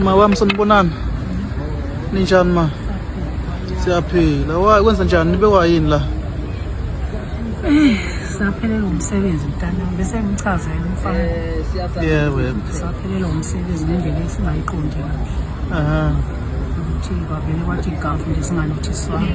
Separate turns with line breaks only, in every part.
Ma wami sanibonani ninjani ma siyaphila wayi kwenza njani nibe wayini la
eh, saphelelwa umsebenzi mntanami bese ngichazela umfana eh, yebo
yebo saphelelwa
umsebenzi ngendlela esingayiqondi kahle aha
ukuthi
kwavele kwathi igavu nje singalothiswanga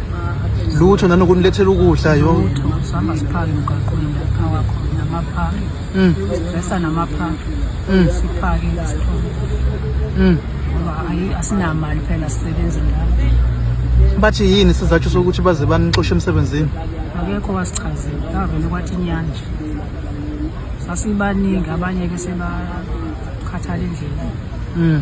lutho nanokuthi nilethela ukudla yo lutho sihamba siphake
emgaqweni lapha wakho namaphaki mm. sibhesa namaphaki mm. siphake isithole mm. ngoba ayi asinamali phela sisebenzi lapho bathi
yini sizathu sokuthi baze banixoshe emsebenzini akekho
wasichazela avele kwathi inyanja sasibaningi abanye ke sebakhathala endleleni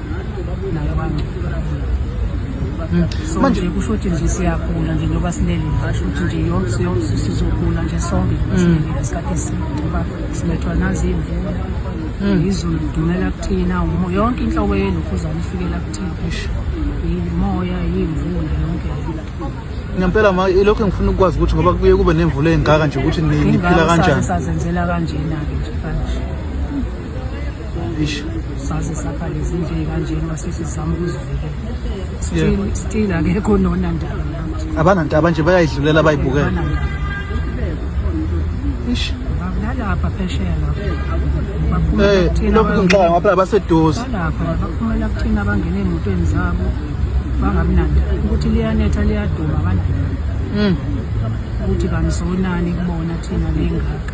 manje kusho ukuthi nje siyagula nje njengoba silele ngasho ukuthi nje yonke yonke sizogula nje sonke mm. simelile isikhathi eside ngoba sibethwa naziyimvula mm. izulu lidumela kuthina yonke inhlobo yelokhuzane ifikela kuthina kusho yimoya yimvula yonke ngempela
ma ilokho engifuna ukukwazi ukuthi ngoba kuye kube nemvula engaka nje ukuthi niphila kanjani sazenzela kanjena-ke
nje kanje ish
saze sakhale
izinto ezikanjena masisi sizama ukuzivikela still still akekho nona ndaba abanandaba nje bayayidlulela
bayibukela ish bakulalapha
phesheya lapho eh, lokhu ngixaka
ngapha baseduze lapha baphumela
kuthina bangena emotweni zabo bangabi nanda ukuthi liyanetha liyaduma bananda hmm. ukuthi kanizonani kubona thina lengaka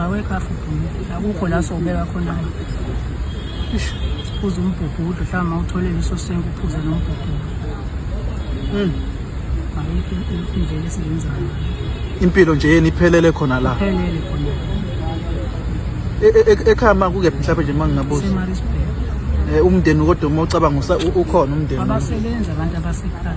awekho afubhulu akukho la sobeka khona-ke ish siphuze umbhubhudlu mhlawumbe mawuthole leso senke uphuze nombhubhudlu um ayikho indlela esiyenzayo impilo nje
yeni iphelele khona la phelele
khona E- e- e-
ekhaya ma kukephi mhlawumbe nje uma ngingabuza semarisburg
Eh, umndeni kodwa uma
ucabanga usa- u- ukhona umndeni abasebenzi abantu
abasekhaya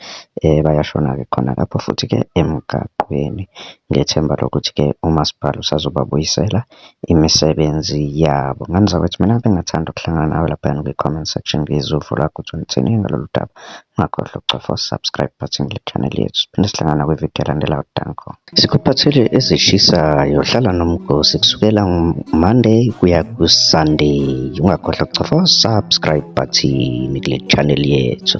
bayashona-ke khona lapho futhi-ke emgaqweni. Ngethemba lokuthi-ke umasipala usazobabuyisela imisebenzi yabo. Ngani zakwethu, mina bengingathanda ukuhlangana nawe laphayana kwi-comment section ngizwe uvo lwakho ukuthi uthini ngalolu daba. Ungakhohlwa ukucofa u-subscribe button kule channel yethu. Siphinde sihlangane nakwi-video elandelayo. Danko. Sikuphathele ezishisayo. Hlala nomgosi kusukela Monday kuya ku-Sunday. Ungakhohlwa kucofa subscribe button kule channel yethu.